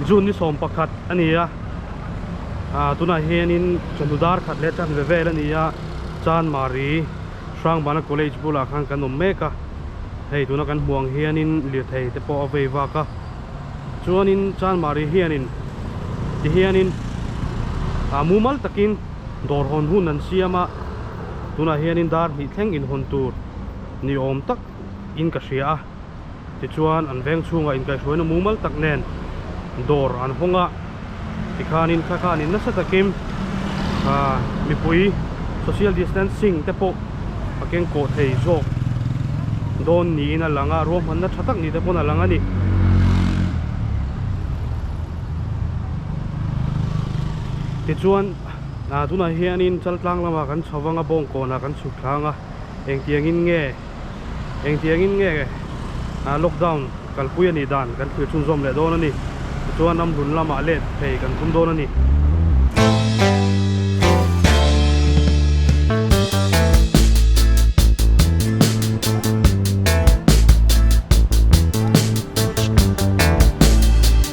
June ni sawm pakhat a ni a, ah tunah hianin chawhnu dar khat leh chhan ve vel a ni a, Chanmari Hrangbana College bulah khan kan awm mek a, hei tuna kan hmuh ang hianin lirthei te pawh a vei vak a. Chuanin Chanmari hianin tihianin a mumal takin dawr hawn hun an siam a, tunah hianin dar hnih thleng inhawn tur ni awm tak in ka hria a, tichuan an veng chhunga inkaihrauina mumal tak nen dawr an hawng a. Tikhanin kha khan in nasa takin mipui social distancing te pawh a keng kawh thei zawk dawn niin a lang a, ruahmanna tha tak ni te pawn a lang a ni. Tichuan tunah hianin Chaltlang lamah kan chho vang a, Bawngkawnah kan chhuk thlang a, engtiangin nge? Engtiangin nge lockdown kalpui a nih dan kan thlir chhunzawm leh dawn a ni. Tichuan ram lun lamah let phei kan khum dawn a ni.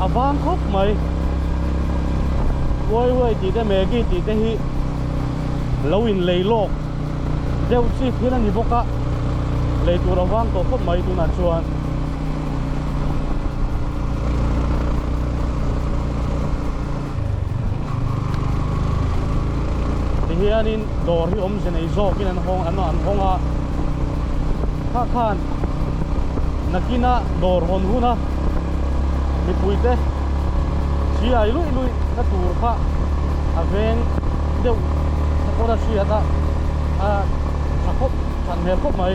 a vang khawp mai Wai Wai tih te Maggie tih te hi lo in lei lawk deuh chi thil a ni bawk a lei tur a vang tawh khawp mai tunah chuan ti hianin dawr hi awmze nei zawk in an hawng an hawng a kha khan nakin a dawr hawn hun a mipui te hri ai luih luih na tur kha a veng deuh te pawh a hriat a a tha khawp than hmel khawp mai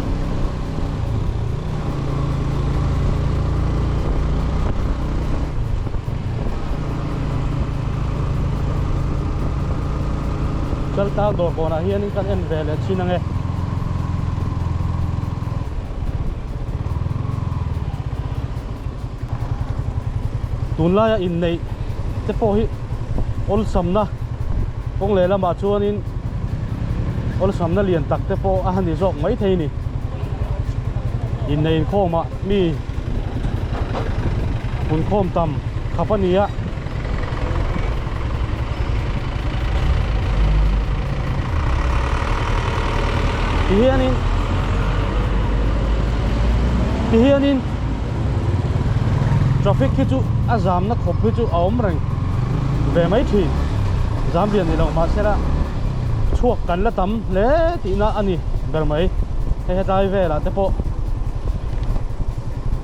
Chal tâl dawr pawnah hianin kan en ve leh thin ang e. tunlaia inneih te pawh hi awlsamna kawng leh lamah chuanin awlsamna lian tak te pawh a ni zawk maithei ni innei inkhawma mi hun khawm tam khap a ni a ti hianin ti hianin traffic khi chu a jam na khawp hi chu a awm reng ve mai thin jam lian ni lo mahsela chhuak kan la tam hle tih na a ni ber mai hei hetlai velah te pawh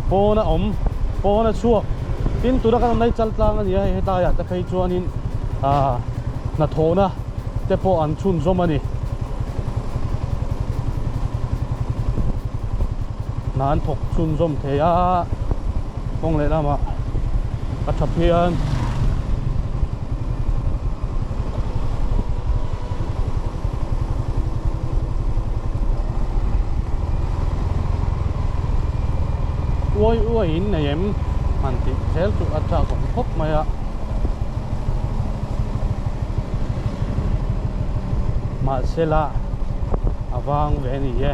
pawn a awm pawn a chhuak tin tuna kan rawn laichal tlang a ni a hei hetlai ah te phei chuan in ahh hnathawhna te pawh an chhunzawm a ni. Hna an thawk chhunzawm thei a, kawng leh lamah a tha phian. Uai uaiin nei em? han tih zel chu a chakawm khawp mai a. mahsela a vang ve ni e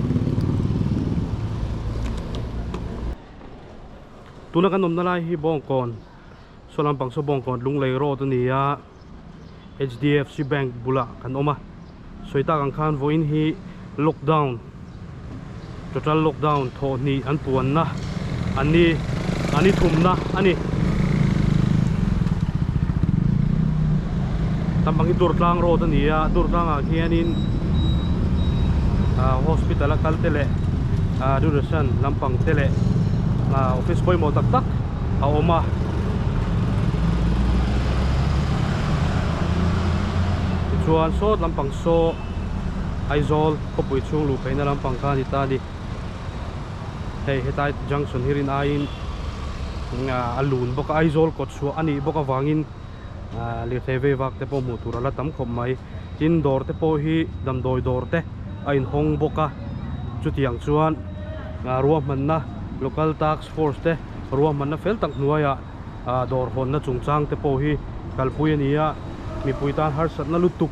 tuna kan awmna lai hi bawngkawn saw lam pang saw bawngkawn lunglei road a ni a hdfc bank bulah kan awm a sawi tak ang khan vawiin hi lockdown total lockdown thawh hnih an puan na-- an ni an i thumna a ni tam bang hi Turtlang road a ni a Turtlang ah hian in ah hospital a kal te leh ah duration lam pang te leh ah office pawimawh tak tak a awm a tichuan sawt lam pang saw Aizawl khawpui chhung luh pheihna lam pang kha a ni ta a ni. hei hetlai junction hi rin aiin a lun bawk a Aizawl kawt chhuah a nih bawk avangin ah lirthei vei vak te pawh hmuh tur a la tam khawp mai tin dawr te pawh hi damdawi dawr te a inhawng bawk a chutiang chuan ah ruahmanna local task force te ruahmanna fel tak hnuaiah ah dawr hawnna chungchang te pawh hi kalpui a ni a mipui tan harsatna lutuk.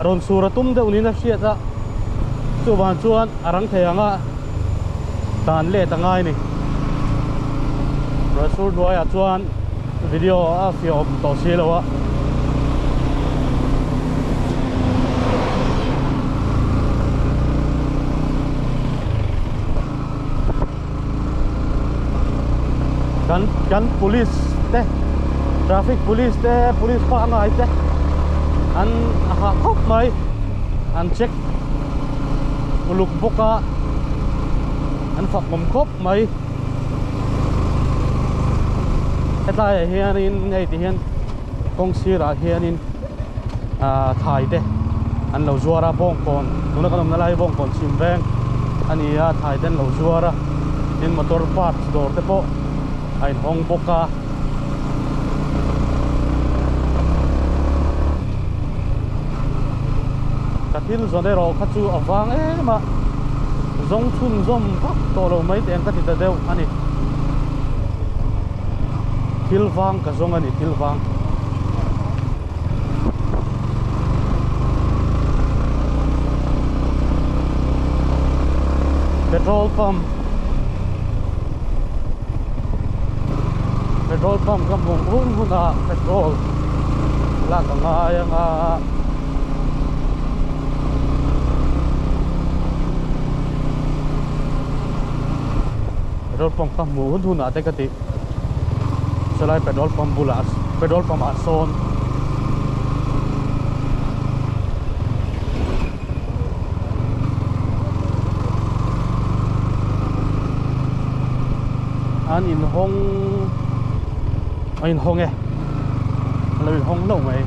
Rawn sur a tum deuh niin a hriat a, chuvang chuan a rang thei ang a, dan let a ngai ni. Rawn sur hnuaiah chuan video a fiawm tawh si lo a. kan kan police te traffic police te police pah ngai te an a hah khawp mai an check uluk bawk a an fahmawm khawp mai hetlai ah hianin hei ti hian kawng sirah hianin ah thai te an lo zuar a bawngkawn tuna kan awmna lai hi bawngkawn chhim veng a ni a thai te an lo zuar a tin motor parts dawr te pawh a in hawng bawk a ka thil zawrh erawh kha chu a vang em a zawng chhun zawm vak tawh lo mai teh ang ka ti ta deuh a ni thil vang ka zawng a ni thil vang petrol pump petrol pump ka hmuh hun huna petrol la ka ngai ang a Petrol pump ka hmuh hun hunah te ka ti. Chulai petrol pump bulah petrol pump ah sawn an in hawng a in hawng e a lo in hawng lo mai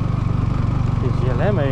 ti zia hle mai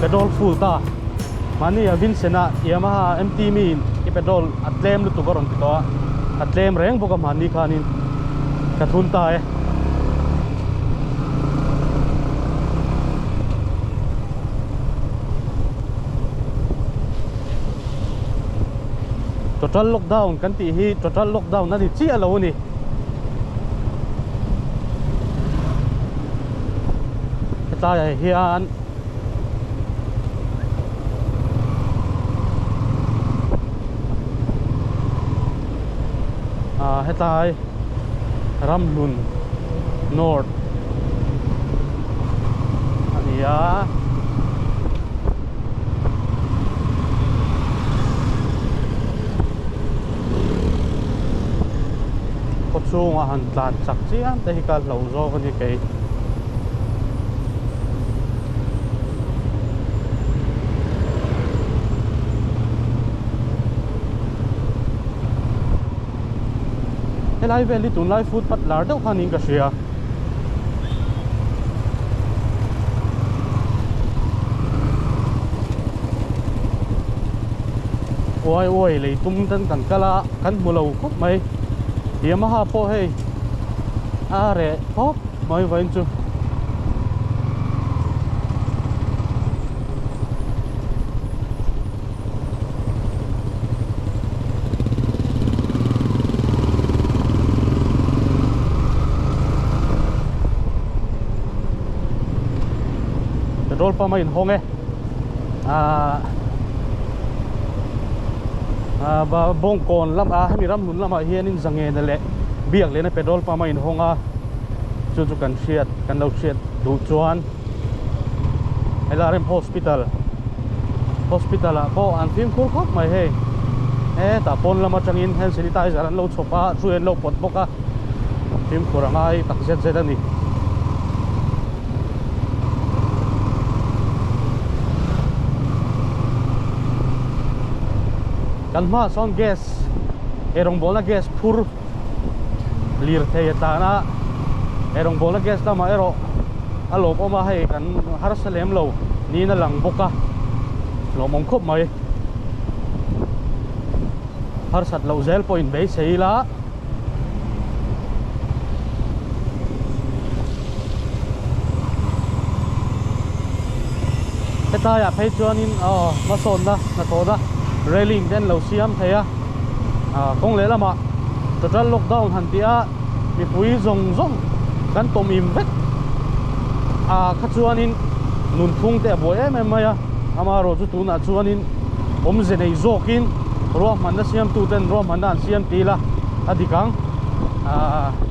Petrol full ta mani a vinsena Yamaha MT mi in i petrol a tlem lutuk a rawn ti tawh a a tlem reng bawk a mahni khan in ka thun ta e total lockdown kan tih hi total lockdown a ni chiah lo a ni hetlaiah hian a hetlai ramhlun north a ni a khua chhunga han tlan chak chiang te hi ka hlo zawk a ni kei helai vel hi tunlai footpath lar deuh khan niin ka hria. uai uai lei tum ten kan kal a kan hmu lo khawp mai yamaha pawh hei a reh khawp mai vawin chu petrol pump a in hawng e ah ah bawngkawn lam ah hemi ramhlun lam ah hian in zangena leh biak lehna petrol pump a in hawng a chu chu kan hriat kan lo hriat duh chuan hela rem hospital hospital ah pawh an fimkhur khawp mai hei hetah pawn lam atangin hand sanitizer an lo chhawp a hrui an lo pawt bawk a fimkhur a ngai tak zet zet a ni kan hmaah sawn gas he rawngbawlna gas phur lirthei a tlan a he rawngbawlna guest lamah erawh a lawm awm a hei kan harsa lem lo niin a lang bawk a lawm awm khawp mai harsat loh zel pawh in beisei ila hetlaiah phei chuanin aw hmasawnna hnathawhna railing te an lo siam thei a Kawng leh lamah total lockdown han tih a, mipui zawng zawng kan tawm im vek a kha chuanin nunphung te a buai em em mai a, amarawh chu tunah chuanin awmze nei zawkin ruahmanna siamtuten ruahmanna an siam ti ila a dik ang.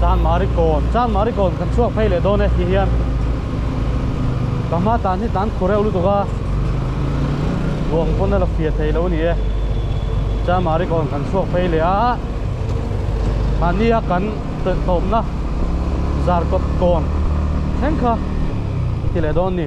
Chang Marikawn, Chang Marikawn kan chhuak phei leh dawn e tih hian ka hma tan hi tan khureu lutuk a luang pawn a la fiah thei lo a ni e Chang Marikawn kan chhuak phei leh a mahnia kan tawpna zarkawt kawn thleng kha ti leh dawn a ni.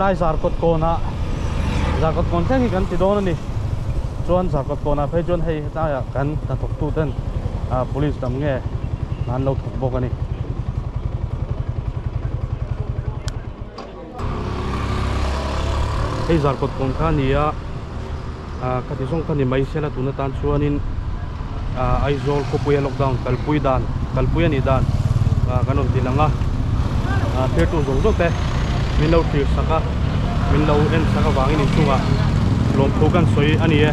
hetlai zarkawt kawnah zarkawt kawn thleng hi kan ti dawn a ni chuan zarkawt kawnah phei chuan hei-- Tlaiah kan hnathawktu ten police dam nge an lo thawk bawk a ni. Hei zarkawt pawn kha ni a, ka ti zawng kha ni mai se la tun atan chuanin Aizawl khawpuia lockdown kalpui dan kalpui a nih dan kan rawn ti lang a, thirtu zawng zawng te min lo tirsak a min lo en sak avangin inchungah lawmthu kan sawi a ni e.